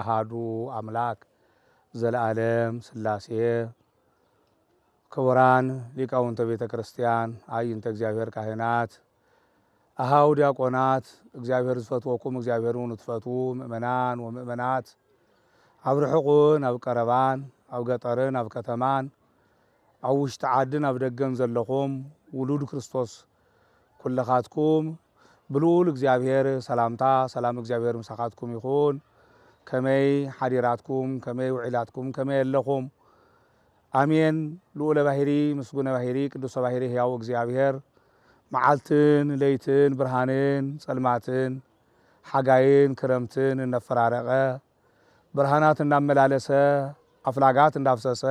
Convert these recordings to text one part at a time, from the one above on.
ኣሃዱ ኣምላክ ዘልኣለም ስላሴ ክቡራን ሊቃውንተ ቤተ ክርስቲያን ኣይንተ እግዚኣብሔር ካህናት ኣሃው ዲያቆናት እግዚኣብሔር ዝፈትወኩም እግዚኣብሔር እውን እትፈትዉ ምእመናን ወምእመናት ኣብ ርሑቕን ኣብ ቀረባን ኣብ ገጠርን ኣብ ከተማን ኣብ ውሽጢ ዓድን ኣብ ደገን ዘለኹም ውሉድ ክርስቶስ ኩልኻትኩም ብልኡል እግዚኣብሔር ሰላምታ ሰላም እግዚኣብሔር ምሳኻትኩም ይኹን ከመይ ሓዲራትኩም ከመይ ውዒላትኩም ከመይ ኣለኹም ኣሜን ልኡለ ባህሪ ምስጉነ ባህሪ ቅዱሰ ባህሪ ሕያው እግዚኣብሔር መዓልትን ለይትን ብርሃንን ጸልማትን ሓጋይን ክረምትን እነፈራረቐ ብርሃናት እንዳመላለሰ ኣፍላጋት እንዳፍሰሰ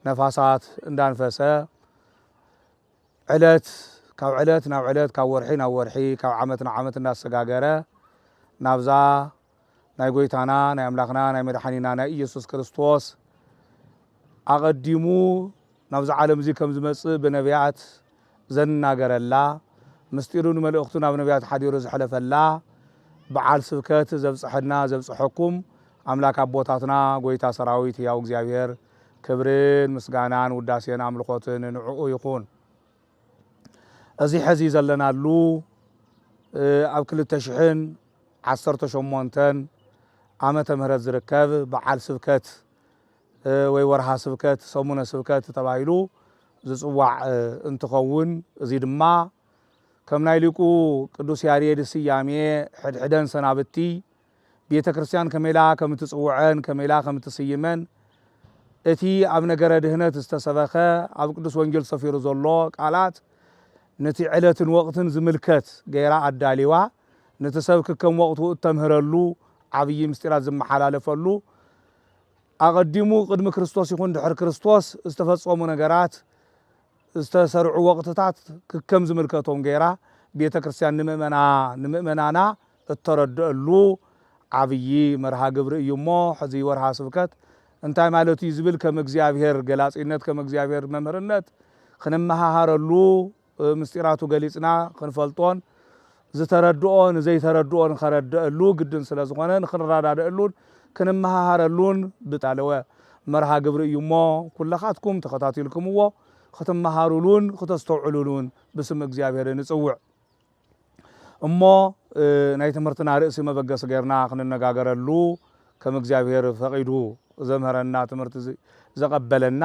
ነፋሳት እንዳንፈሰ ዕለት ካብ ዕለት ናብ ዕለት ካብ ወርሒ ናብ ወርሒ ካብ ዓመት ናብ ዓመት እንዳሰጋገረ ናብዛ ናይ ጎይታና ናይ ኣምላኽና ናይ መድሓኒና ናይ ኢየሱስ ክርስቶስ ኣቐዲሙ ናብዚ ዓለም እዚ ከም ዝመጽእ ብነቢያት ዘናገረላ፣ ምስጢሩን መልእኽቱን ኣብ ነብያት ሓዲሩ ዝሐለፈላ ብዓል ስብከት ዘብጽሐና ዘብጽሐኩም ኣምላክ ኣቦታትና ጎይታ ሰራዊት ህያው እግዚኣብሔር ክብርን ምስጋናን ውዳሴን ኣምልኾትን ንዑኡ ይኹን። እዚ ሐዚ ዘለናሉ ኣብ ክልተ ሽሕን ዓሰርተ ሸሞንተን ዓመተ ምህረት ዝርከብ ብዓል ስብከት ወይ ወርሃ ስብከት፣ ሰሙነ ስብከት፣ ተባሂሉ ዝጽዋዕ እንትኸውን እዚ ድማ ከም ናይ ሊቁ ቅዱስ ያሬድ ስያሜ ሕድሕደን ሰናብቲ ቤተ ክርስቲያን ከመይ ኢላ ከም እትጽውዐን ከመይ ኢላ ከም እትስይመን እቲ ኣብ ነገረ ድህነት ዝተሰበኸ ኣብ ቅዱስ ወንጌል ሰፊሩ ዘሎ ቃላት ነቲ ዕለትን ወቕትን ዝምልከት ገይራ ኣዳሊዋ ነቲ ሰብ ክከም ወቕቱ እተምህረሉ ዓብዪ ምስጢራት ዝመሓላለፈሉ ኣቐዲሙ ቅድሚ ክርስቶስ ይኹን ድሕሪ ክርስቶስ ዝተፈጸሙ ነገራት፣ ዝተሰርዑ ወቕትታት ክከም ዝምልከቶም ገይራ ቤተ ክርስቲያን ንምእመና ንምእመናና እተረድኣሉ ዓብዪ መርሃ ግብሪ እዩ እሞ ሕዚ ወርሃ ስብከት እንታይ ማለት እዩ ዝብል ከም እግዚኣብሔር ገላጺነት ከም እግዚኣብሔር መምህርነት ክንመሃሃረሉ ምስጢራቱ ገሊጽና ክንፈልጦን ዝተረድኦ ንዘይተረድኦ ንኸረደእሉ ግድን ስለዝኾነ ንኽንረዳደእሉን ክንመሃሃረሉን ብተዳለወ መርሃ ግብሪ እዩ እሞ ኩለኻትኩም ተኸታቲልክምዎ ክትመሃሩሉን ክተስተውዕሉሉን ብስም እግዚኣብሔር ንጽውዕ። እሞ ናይ ትምህርትና ርእሲ መበገሲ ገርና ክንነጋገረሉ ከም እግዚኣብሔር ፈቂዱ ዘምህረና ትምህርቲ ዘቐበለና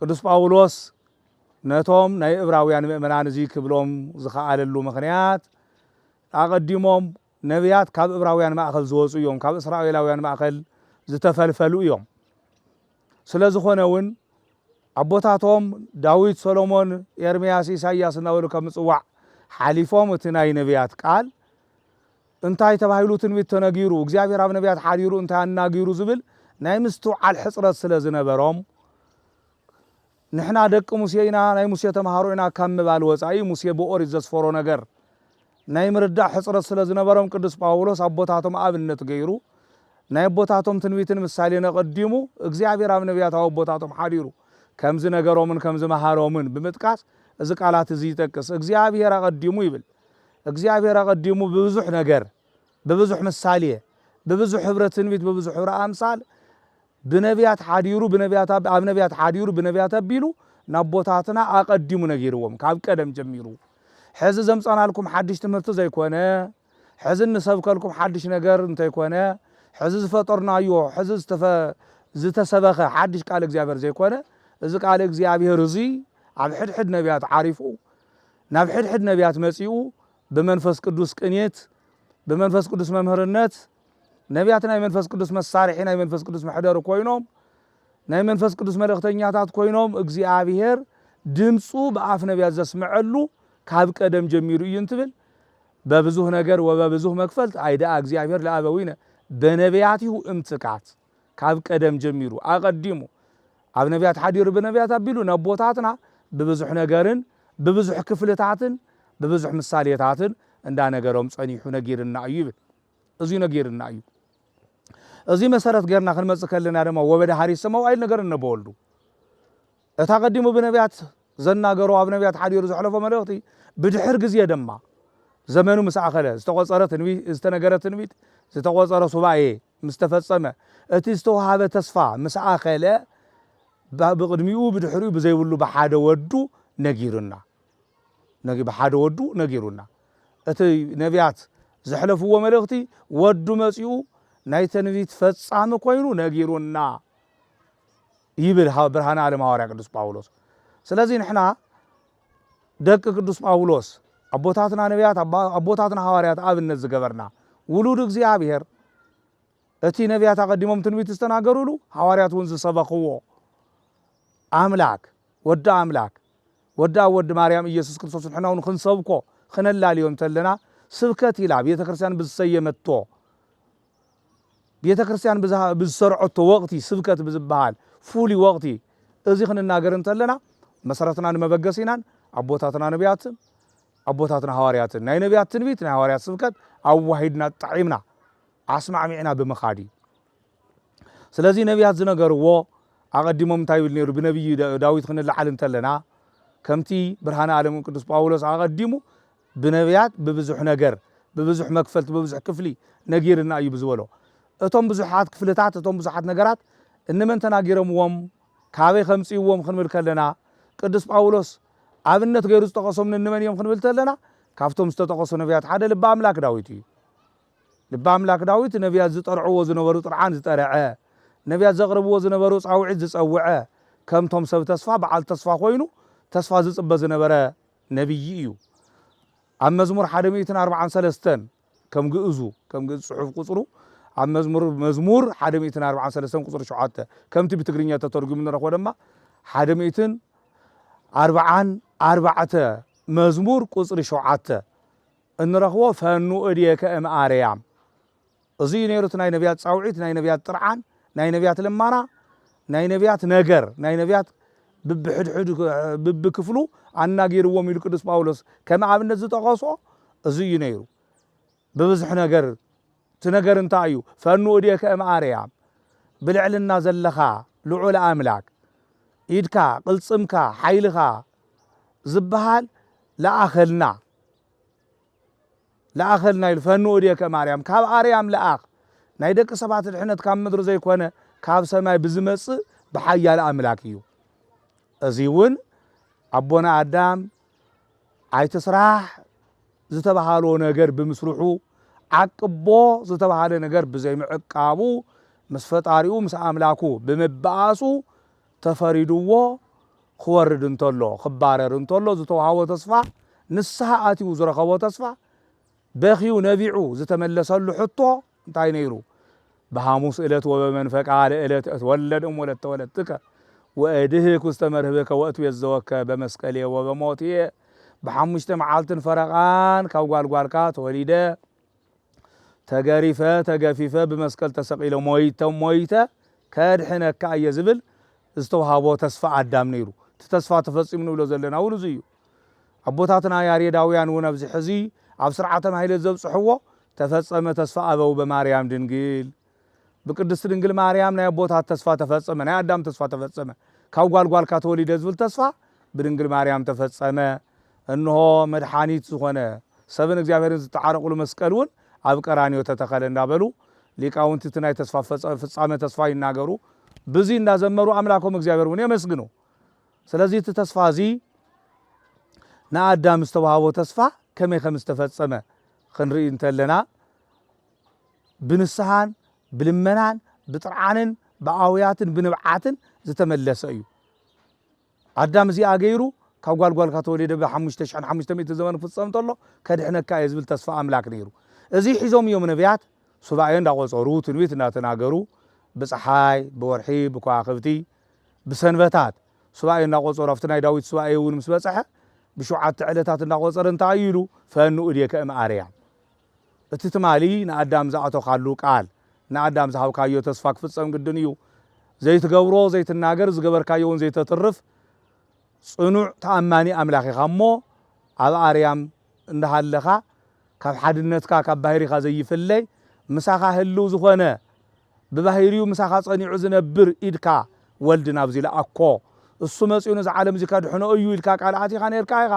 ቅዱስ ጳውሎስ ነቶም ናይ እብራውያን ምእመናን እዚ ክብሎም ዝኸኣለሉ ምኽንያት፣ ኣቐዲሞም ነብያት ካብ እብራውያን ማእከል ዝወጹ እዮም፣ ካብ እስራኤላውያን ማእከል ዝተፈልፈሉ እዮም። ስለ ዝኾነ እውን ኣቦታቶም ዳዊት፣ ሰሎሞን፣ ኤርምያስ፣ ኢሳይያስ እናበሉ ካብ ምጽዋዕ ሓሊፎም እቲ ናይ ነብያት ቃል፣ እንታይ ተባሂሉ ትንቢት ተነጊሩ፣ እግዚኣብሔር ኣብ ነቢያት ሓዲሩ እንታይ ኣናጊሩ ዝብል ናይ ምስትውዓል ሕጽረት ስለ ዝነበሮም፣ ንሕና ደቂ ሙሴ ኢና፣ ናይ ሙሴ ተመሃሮ ኢና ካብ ምባል ወጻኢ ሙሴ ብኦሪት ዘስፈሮ ነገር ናይ ምርዳእ ሕጽረት ስለ ዝነበሮም ቅዱስ ጳውሎስ ኣቦታቶም ኣብነት ገይሩ ናይ ኣቦታቶም ትንቢትን ምሳሌን ኣቐዲሙ እግዚኣብሔር ኣብ ነቢያት ኣብ ኣቦታቶም ሓዲሩ ከም ዝነገሮምን ከም ዝመሃሮምን ብምጥቃስ እዚ ቃላት እዚ ይጠቅስ። እግዚኣብሔር ኣቐዲሙ ይብል። እግዚኣብሔር ኣቐዲሙ ብብዙኅ ነገር ብብዙኅ ምሳሌ ብብዙኅ ኅብረ ትንቢት ብብዙኅ ኅብረ ኣምሳል ብነቢያት ሓዲሩ ብነቢያት ኣብ ኣብ ነቢያት ሓዲሩ ብነቢያት ኣቢሉ ናቦታትና ኣቐዲሙ ነጊርዎም ካብ ቀደም ጀሚሩ ሕዚ ዘምጻናልኩም ሓድሽ ትምህርቲ ዘይኮነ ሕዚ እንሰብከልኩም ሓድሽ ነገር እንተይኮነ ሕዚ ዝፈጠርናዮ ሕዚ ዝተፈ ዝተሰበኸ ሓድሽ ቃል እግዚኣብሔር ዘይኮነ እዚ ቃል እግዚኣብሔር እዙይ ኣብ ሕድሕድ ነቢያት ዓሪፉ ናብ ሕድሕድ ነቢያት መጺኡ ብመንፈስ ቅዱስ ቅኒት ብመንፈስ ቅዱስ መምህርነት ነቢያት ናይ መንፈስ ቅዱስ መሳርሒ ናይ መንፈስ ቅዱስ መሕደሪ ኮይኖም ናይ መንፈስ ቅዱስ መልእኽተኛታት ኮይኖም እግዚኣብሔር ድምፁ ብኣፍ ነቢያት ዘስምዐሉ ካብ ቀደም ጀሚሩ እዩ እንትብል በብዙህ ነገር ወበብዙህ መክፈልት ኣይደኣ እግዚኣብሔር ለኣበዊነ በነቢያቲሁ እምጽቃት ካብ ቀደም ጀሚሩ ኣቐዲሙ ኣብ ነቢያት ሓዲሩ ብነቢያት ኣቢሉ ነቦታትና ብብዙሕ ነገርን ብብዙሕ ክፍልታትን ብብዙሕ ምሳሌታትን እንዳነገሮም ጸኒሑ ነጊርና እዩ ይብል እዙይ ነጊርና እዩ እዙይ መሰረት ገርና ክንመጽእ ከለና ድማ ወበደ ሃሪሰ መዋይል ነገር እነበወልዱ እቲ ኣቐዲሙ ብነብያት ዘናገሮ ኣብ ነብያት ሓዲሩ ዘሕለፎ መልእኽቲ ብድሕር ግዜ ደማ ዘመኑ ምስ ኣኸለ ዝተቖጸረ ትንቢ ዝተነገረ ትንቢት ዝተቖጸረ ሱባኤ ምስ ተፈጸመ እቲ ዝተዋሃበ ተስፋ ምስ ኣኸለ ብ ብቕድሚኡ ብድሕሪኡ ብዘይብሉ ብሓደ ወዱ ነጊሩና ነግ ብሓደ ወዱ ነጊሩና እቲ ነብያት ዘሕለፍዎ መልእኽቲ ወዱ መጺኡ ናይ ተንቢት ፈጻሚ ኮይኑ ነጊሩና። ይብል ሃው ብርሃነ ኣለም ሃዋርያ ቅዱስ ጳውሎስ ስለዚ ንሕና ደቂ ቅዱስ ጳውሎስ ኣቦታትና ነቢያት ኣቦታትና ሃዋርያት ኣብነት ዝገበርና ውሉድ እግዚኣብሔር እቲ ነቢያት ኣቐዲሞም ትንቢት ዝተናገሩሉ ሃዋርያት እውን ዝሰበኽዎ ኣምላክ ወዲ ኣምላክ ወዲ ኣብ ወዲ ማርያም ኢየሱስ ክርስቶስ ንሕና እውን ክንሰብኮ ክነላልዮ እንተለና ስብከት ኢላ ቤተ ክርስቲያን ብዝሰየመቶ ቤተ ክርስቲያን ብዝሰርዐቶ ወቕቲ ስብከት ብዝበሃል ፍሉይ ወቕቲ እዚ ክንናገር እንተለና መሰረትናን መበገሲናን ኣቦታትና ነቢያትን ኣቦታትና ሃዋርያትን ናይ ነቢያት ትንቢት ናይ ሃዋርያት ስብከት ኣዋሂድና ጣዒምና ኣስማዕሚዕና ብምኻድ እዩ ስለዚ ነቢያት ዝነገርዎ ኣቐዲሞም እንታይ ይብል ነይሩ ብነቢይ ዳዊት ክንለዓል እንተለና ከምቲ ብርሃነ ዓለም ቅዱስ ጳውሎስ ኣቐዲሙ ብነብያት ብብዙሕ ነገር፣ ብብዙሕ መክፈልቲ፣ ብብዙሕ ክፍሊ ነጊርና እዩ ብዝበሎ፣ እቶም ብዙሓት ክፍልታት፣ እቶም ብዙሓት ነገራት እንመን ተናጊሮምዎም፣ ካበይ ከምጽእዎም ክንብል ከለና፣ ቅዱስ ጳውሎስ ኣብነት ገይሩ ዝጠቐሶም ንንመን እዮም ክንብል ተለና፣ ካብቶም ዝተጠቐሱ ነብያት ሓደ ልቢ ኣምላክ ዳዊት እዩ። ልቢ ኣምላክ ዳዊት ነብያት ዝጠርዕዎ ዝነበሩ ጥርዓን ዝጠረዐ፣ ነብያት ዘቕርብዎ ዝነበሩ ጻውዒት ዝጸውዐ፣ ከምቶም ሰብ ተስፋ በዓል ተስፋ ኮይኑ ተስፋ ዝጽበ ዝነበረ ነብዪ እዩ። ኣብ መዝሙር ሓደ ሚእትን ኣርብዓን ሰለስተን ከም ግእዙ፣ ከም ግእዝ ጽሑፍ ቁጽሩ፣ ኣብ መዝሙር መዝሙር ሓደ ሚእትን ኣርብዓን ሰለስተን ቁጽሪ ሸውዓተ፣ ከምቲ ብትግርኛ ተተርጉሙ ንረኽቦ ደማ ሓደ ሚእትን ኣርብዓን ኣርባዕተ መዝሙር ቁጽሪ ሸውዓተ እንረኽቦ ፈኑ እዴከ እምኣርያም እዚ እዩ ነይሩ እቲ ናይ ነብያት ጻውዒት፣ ናይ ነብያት ጥርዓን፣ ናይ ነብያት ልማና፣ ናይ ነብያት ነገር፣ ናይ ነብያት ብብሕድሕዱ ብብክፍሉ ኣናጊርዎም ኢሉ ቅዱስ ጳውሎስ ከም ኣብነት ዝጠቐሶ እዚ እዩ ነይሩ። ብብዝሕ ነገር እቲ ነገር እንታይ እዩ? ፈኑ እዴከ እም ኣርያም ብልዕልና ዘለኻ ልዑል ኣምላክ ኢድካ ቅልጽምካ ሓይልኻ ዝበሃል ለኣኸልና። ለኣኸልና ኢሉ ፈኑ እዴከ ማርያም ካብ ኣርያም ለኣኽ ናይ ደቂ ሰባት ድሕነት ካብ ምድሪ ዘይኮነ ካብ ሰማይ ብዝመጽእ ብሓያል ኣምላክ እዩ እዚ እውን ኣቦና ኣዳም ኣይትስራሕ ዝተባሃሎ ነገር ብምስርሑ ዓቅቦ ዝተባሃለ ነገር ብዘይምዕቃቡ ምስ ፈጣሪኡ ምስ ኣምላኩ ብምባኣሱ ተፈሪድዎ ክወርድ እንተሎ፣ ክባረር እንተሎ ዝተውሃቦ ተስፋ፣ ንስሃ ኣትዩ ዝረኸቦ ተስፋ፣ በኽዩ ነቢዑ ዝተመለሰሉ ሕቶ እንታይ ነይሩ? በሃሙስ እለት ወበመንፈቃ ለእለት እትወለድ እም ወለተ ወለትከ ወእድህክ ውስተ መርህብከ ወእትቤዘወከ በመስቀልየ ወበሞትየ ብሓሙሽተ መዓልትን ፈረቃን ካብ ጓልጓልካ ተወሊደ ተገሪፈ ተገፊፈ ብመስቀል ተሰቒለ ሞይተ ሞይተ ከድሕነካ እየ ዝብል ዝተውሃቦ ተስፋ ኣዳም ነይሩ። እቲ ተስፋ ተፈጺሙ ንብሎ ዘለና እውን እዚ እዩ። ኣቦታትና ያሬዳውያን እውን ኣብዚ ሕዚ ኣብ ስርዓተ ማሕሌት ዘብጽሕዎ ተፈጸመ ተስፋ ኣበው በማርያም ድንግል ብቅድስቲ ድንግል ማርያም ናይ ኣቦታት ተስፋ ተፈጸመ፣ ናይ ኣዳም ተስፋ ተፈጸመ፣ ካብ ጓል ጓልካ ተወሊደ ዝብል ተስፋ ብድንግል ማርያም ተፈጸመ፣ እንሆ መድሓኒት ዝኾነ ሰብን እግዚኣብሔርን ዝተዓረቕሉ መስቀል እውን ኣብ ቀራንዮ ተተኸለ እንዳበሉ ሊቃውንቲ እቲ ናይ ተስፋ ፍጻመ ተስፋ ይናገሩ፣ ብዚ እንዳዘመሩ ኣምላኮም እግዚኣብሔር እውን የመስግኑ። ስለዚ እቲ ተስፋ እዚ ንኣዳም ዝተዋህቦ ተስፋ ከመይ ከም ዝተፈጸመ ክንርኢ እንተለና ብንስሃን ብልመናን ብጥርዓንን ብኣውያትን ብንብዓትን ዝተመለሰ እዩ። ኣዳም እዚኣ ገይሩ ካብ ጓል ጓልካ ተወሊደ ብ ሓሙሽተ ሽሕን ሓሙሽተ ሚእቲ ዘመን ክፍጸም እንተሎ ከድሕነካ እየ ዝብል ተስፋ ኣምላክ ነይሩ። እዚ ሒዞም እዮም ነብያት ሱባኤ እንዳቆጸሩ ትንቢት እንዳተናገሩ ብጸሓይ ብወርሒ ብከዋክብቲ ብሰንበታት ሱባኤ እንዳቆጸሩ ኣብቲ ናይ ዳዊት ሱባኤ እውን ምስ በጸሐ ብሽውዓተ ዕለታት እንዳቆጸረ እንታይ እዩ ኢሉ ፈኑ እዴከ እም ኣርያም እቲ ትማሊ ንኣዳም ዝኣቶካሉ ቃል ንኣዳም ዝሃብካዮ ተስፋ ክፍጸም ግድን እዩ። ዘይትገብሮ ዘይትናገር ዝገበርካዮ ውን ዘይተትርፍ ጽኑዕ ተኣማኒ ኣምላኽ ኢኻ እሞ ኣብ ኣርያም እንዳሃለኻ ካብ ሓድነትካ ካብ ባህሪኻ ዘይፍለይ ምሳኻ ህልው ዝኾነ ብባህሪኡ ምሳኻ ጸኒዑ ዝነብር ኢድካ ወልድ ናብዚ ልኣኮ እሱ መጺኡ ነዚ ዓለም እዚ ከድሕኖ እዩ ኢልካ ቃል ኣቲኻ ኔርካ ኢኻ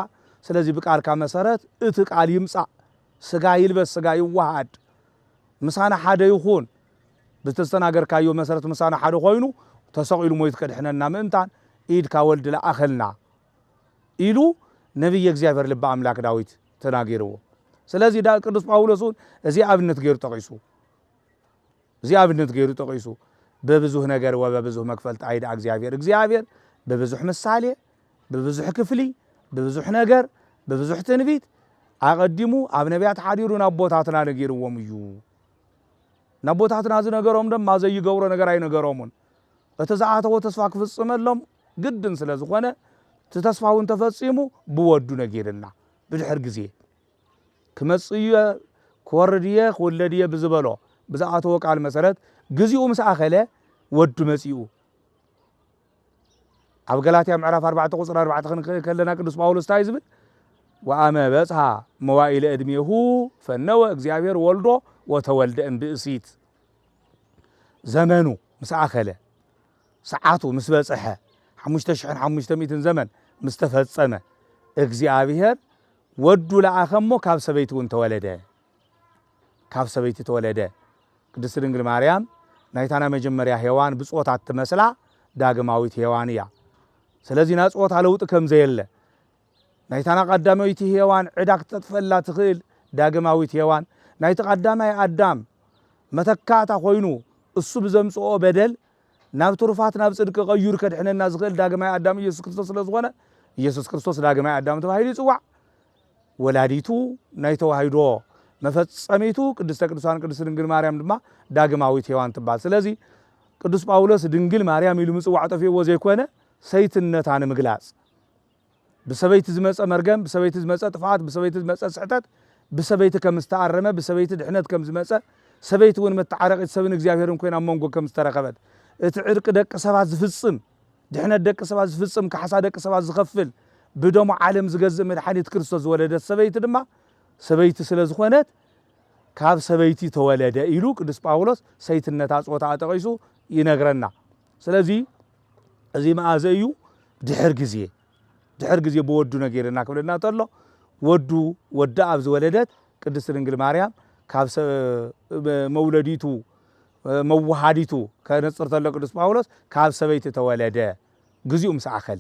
ስለዚ ብቃልካ መሰረት እቲ ቃል ይምጻእ ስጋ ይልበስ ስጋ ይወሃሃድ ምሳና ሓደ ይኹን ብዝተስተናገርካዮ መሰረት ምሳና ሓደ ኮይኑ ተሰቒሉ ሞይቱ ከድሕነና ምእንታን ኢድካ ወልድ ለኣኸልና ኢሉ ነቢየ እግዚኣብሔር ልበ ኣምላክ ዳዊት ተናጊርዎ ስለዚ ቅዱስ ጳውሎስ እውን እዚ ኣብነት ገይሩ ጠቒሱ እዚ ኣብነት ገይሩ ጠቒሱ፣ በብዙህ ነገር ወበብዙህ መክፈልት ኣይድኣ እግዚኣብሔር፣ እግዚኣብሔር ብብዙሕ ምሳሌ፣ ብብዙሕ ክፍሊ፣ ብብዙሕ ነገር፣ ብብዙሕ ትንቢት ኣቐዲሙ ኣብ ነቢያት ሓዲሩ ንኣቦታትና ነጊርዎም እዩ። ንኣቦታትና ዝነገሮም ድማ ዘይገብሮ ነገር ኣይነገሮሙን። እቲ ዝኣተዎ ተስፋ ክፍጽመሎም ግድን ስለ ዝኾነ እቲ ተስፋ እውን ተፈጺሙ ብወዱ ነጊርልና ብድሕር ግዜ ክመጽእ እየ፣ ክወርድ እየ፣ ክውለድ እየ ብዝበሎ ብዝኣተዎ ቃል መሰረት ግዚኡ ምስ ኣኸለ ወዱ መጺኡ። ኣብ ገላትያ ምዕራፍ 4 ቁጽሪ 4 ክንርኢ ከለና ቅዱስ ጳውሎስ እንታይ ዝብል ወአመ በጽሐ መዋኢለ ዕድሜሁ ፈነወ እግዚኣብሔር ወልዶ ወተወልደ እምብእሲት ዘመኑ ምስ ኣኸለ ሰዓቱ ምስ በጽሐ ሓሙሽተ ሽሕን ሓሙሽተ ሚእትን ዘመን ምስ ተፈጸመ እግዚኣብሔር ወዱ ለኣኸ እሞ ካብ ሰበይቲ እውን ተወለደ ካብ ሰበይቲ ተወለደ ቅድስቲ ድንግል ማርያም ናይታ ናይ መጀመርያ ሔዋን ብጾታ እትመስላ ዳግማዊት ሔዋን እያ ስለዚ ናይ ጾታ ለውጢ ከም ዘየለ ናይታ ናይ ቀዳመይቲ ሔዋን ዕዳ ክተጥፈላ ትኽእል ዳግማዊት ሔዋን ናይቲ ቀዳማይ ኣዳም መተካእታ ኮይኑ እሱ ብዘምጽኦ በደል ናብ ትሩፋት ናብ ጽድቂ ቀዩሩ ከድሕነና ዝኽእል ዳግማይ ኣዳም ኢየሱስ ክርስቶስ ስለ ዝኾነ ኢየሱስ ክርስቶስ ዳግማይ ኣዳም ተባሂሉ ይጽዋዕ። ወላዲቱ ናይ ተዋሂዶ መፈጸሚቱ ቅድስተ ቅዱሳን ቅድስት ድንግል ማርያም ድማ ዳግማዊት ሔዋን ትባል። ስለዚ ቅዱስ ጳውሎስ ድንግል ማርያም ኢሉ ምጽዋዕ ጠፊእዎ ዘይኮነ ሰይትነታ ንምግላጽ ብሰበይቲ ዝመጸ መርገም፣ ብሰበይቲ ዝመጸ ጥፍኣት፣ ብሰበይቲ ዝመጸ ስሕተት ብሰበይቲ ከም ዝተኣረመ፣ ብሰበይቲ ድሕነት ከም ዝመጸ፣ ሰበይቲ እውን መተዓረቒት ሰብን እግዚኣብሔርን ኮይና ኣብ መንጎ ከም ዝተረኸበት፣ እቲ ዕርቂ ደቂ ሰባት ዝፍጽም፣ ድሕነት ደቂ ሰባት ዝፍጽም፣ ካሕሳ ደቂ ሰባት ዝኸፍል፣ ብደሙ ዓለም ዝገዝእ መድሓኒት ክርስቶስ ዝወለደት ሰበይቲ ድማ ሰበይቲ ስለ ዝኾነት ካብ ሰበይቲ ተወለደ ኢሉ ቅዱስ ጳውሎስ ሰይትነታ ጾታኣ ጠቒሱ ይነግረና። ስለዚ እዚ መኣዘ እዩ ድሕር ግዜ ድሕር ግዜ ብወዱ ነጊርና ክብለና ተሎ ወዱ ወዳ ኣብ ዝወለደት ቅድስት ድንግል ማርያም ካብ መውለዲቱ መዋሃዲቱ ከነጽር ተሎ ቅዱስ ጳውሎስ ካብ ሰበይቲ ተወለደ ግዚኡ ምስ ኣኸለ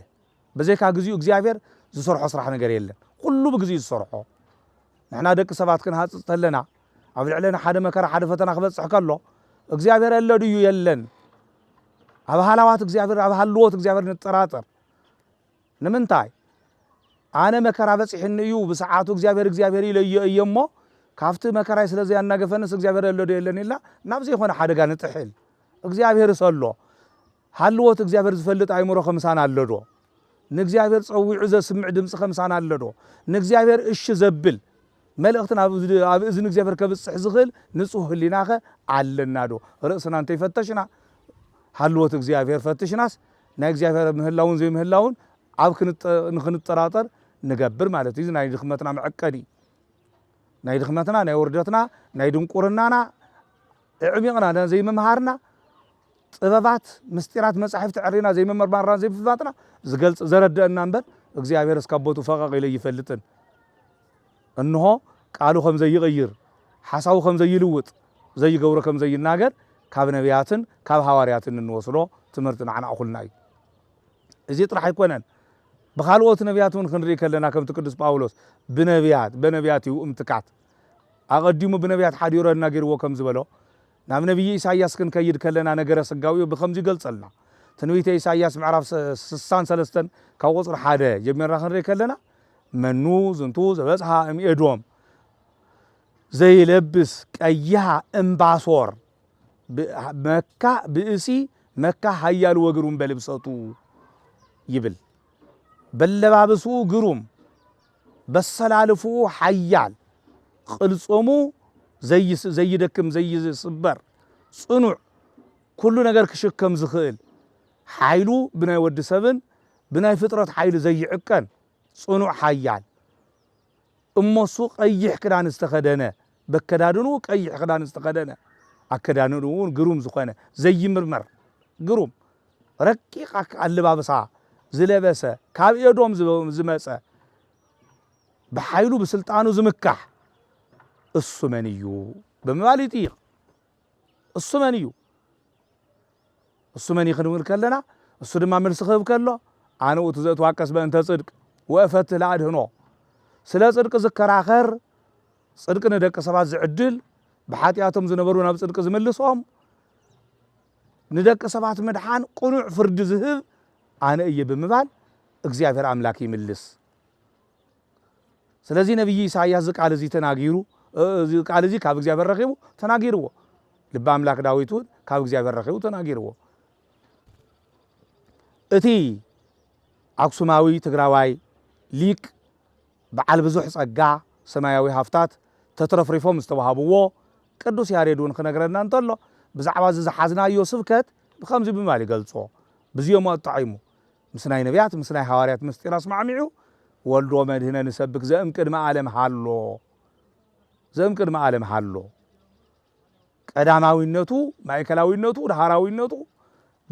ብዘይካ ግዚኡ እግዚኣብሔር ዝሰርሖ ስራሕ ነገር የለን ኩሉ ብግዚኡ ዝሰርሖ ንሕና ደቂ ሰባት ክንሃጽጽ ተለና ኣብ ልዕሌና ሓደ መከራ ሓደ ፈተና ክበጽሕ ከሎ እግዚኣብሔር ኣሎ ድዩ የለን ኣብ ሃላዋት እግዚኣብሔር ኣብ ሃልዎት እግዚኣብሔር ንጠራጠር ንምንታይ ኣነ መከራ በጺሕኒ እዩ ብሰዓቱ እግዚኣብሔር እግዚኣብሔር ኢለዮ እየ እሞ ካብቲ መከራይ ስለ ዘያናገፈንስ እግዚኣብሔር ኣሎ ዶ የለን ኢልና ናብ ዘይኮነ ሓደጋ ንጥሕል እግዚኣብሔር ሰሎ ሃልዎት እግዚኣብሔር ዝፈልጥ ኣእምሮኸ ምሳና ኣሎዶ? ንእግዚኣብሔር ጸዊዑ ዘስምዕ ድምጽኸ ምሳና ኣሎዶ? ንእግዚኣብሔር እሺ ዘብል መልእኽቲ ኣብ እዝኒ እግዚኣብሔር ከብጽሕ ዝኽእል ንጹህ ህሊናኸ ኣለናዶ? ርእስና እንተይፈተሽና ሃልዎት እግዚኣብሔር ፈትሽናስ ናይ እግዚኣብሔር ምህላውን ዘይምህላውን ኣብ ንኽንጠራጠር ንገብር ማለት እዩ። እዚ ናይ ድኽመትና መዕቀኒ እዩ። ናይ ድኽመትና፣ ናይ ውርደትና፣ ናይ ድንቁርናና እዕሚቕና ዘይምምሃርና ጥበባት ምስጢራት መጻሕፍቲ ዕሪና ዘይምምርማርናን ዘይምፍላጥና ዝገልጽ ዘረደእና እምበር እግዚኣብሔርስ ካብ ቦትኡ ፈቐቕ ኢሉ እይፈልጥን እንሆ ቃሉ ከም ዘይቕይር ሓሳቡ ከም ዘይልውጥ ዘይገብሮ ከም ዘይናገር ካብ ነብያትን ካብ ሃዋርያትን እንወስዶ ትምህርቲ ንዓና እኹልና እዩ እዚ ጥራሕ ኣይኮነን ብካልኦት ነብያት እውን ክንርኢ ከለና ከምቲ ቅዱስ ጳውሎስ ብነብያት በነብያት እዩ እምትካት ኣቐዲሙ ብነብያት ሓዲሮ ናጊርዎ ከም ዝበሎ ናብ ነብዪ ኢሳይያስ ክንከይድ ከለና ነገረ ስጋዌኡ ብኸምዚ ይገልጸልና። ትንቢተ ኢሳይያስ ምዕራፍ ስሳን ሰለስተን ካብ ቁጽሪ ሓደ ጀሚርና ክንርኢ ከለና መኑ ዝንቱ ዘበጽሓ እም ኤዶም ዘይለብስ ቀይሃ እም ባሶር መካ ብእሲ መካ ሃያሉ ወግሩም በልብሰቱ ይብል። በለባብስኡ ግሩም በሰላልፍኡ ሓያል፣ ቕልጽሙ ዘይደክም ዘይስበር፣ ጽኑዕ፣ ኩሉ ነገር ክሽከም ዝኽእል፣ ሓይሉ ብናይ ወዲ ሰብን ብናይ ፍጥረት ሓይሊ ዘይዕቀን ጽኑዕ ሓያል፣ እሞሱ ቐይሕ ክዳን ዝተኸደነ፣ በከዳድንኡ ቀይሕ ክዳን ዝተኸደነ ኣከዳድንኡ ውን ግሩም ዝኾነ ዘይምርመር ግሩም ረቂቕ ኣለባብሳ ዝለበሰ ካብ ኤዶም ዝመጸ ብሓይሉ ብስልጣኑ ዝምካሕ እሱ መን እዩ ብምባል ይጥይቕ። እሱ መን እዩ እሱ መን ይክንብል ከለና እሱ ድማ መልሲ ክህብ ከሎ ኣነ ውእቱ ዘእትዋቀስ በእንተ ጽድቅ ወእፈትህ ለኣድህኖ ስለ ጽድቂ ዝከራኸር ጽድቂ ንደቂ ሰባት ዝዕድል ብሓጢኣቶም ዝነበሩ ናብ ጽድቂ ዝምልሶም ንደቂ ሰባት ምድሓን ቅኑዕ ፍርዲ ዝህብ ኣነ እየ ብምባል እግዚኣብሔር ኣምላክ ይምልስ ስለዚ ነብዪ ኢሳይያስ እዚ ቃል እዚ ተናጊሩ እዚ ቃል እዚ ካብ እግዚኣብሔር ረኺቡ ተናጊርዎ ልቢ ኣምላክ ዳዊት እውን ካብ እግዚኣብሔር ረኺቡ ተናጊርዎ እቲ ኣክሱማዊ ትግራዋይ ሊቅ በዓል ብዙሕ ጸጋ ሰማያዊ ሃፍታት ተትረፍሪፎም ዝተዋሃብዎ ቅዱስ ያሬድ እውን ክነግረና እንተሎ ብዛዕባ እዚ ዝሓዝናዮ ስብከት ብከምዚ ብምባል ይገልጾ ብዝዮሞ ኣጣዒሙ ምስ ናይ ነብያት ምስ ናይ ሃዋርያት ምስጢር ኣስማዕሚዑ ወልድ ወመድህነ ንሰብክ ዘእምቅድመ ኣለም ሃሎ ዘእምቅድመ ኣለም ሃሎ ቀዳማዊነቱ ማእከላዊነቱ ድሃራዊነቱ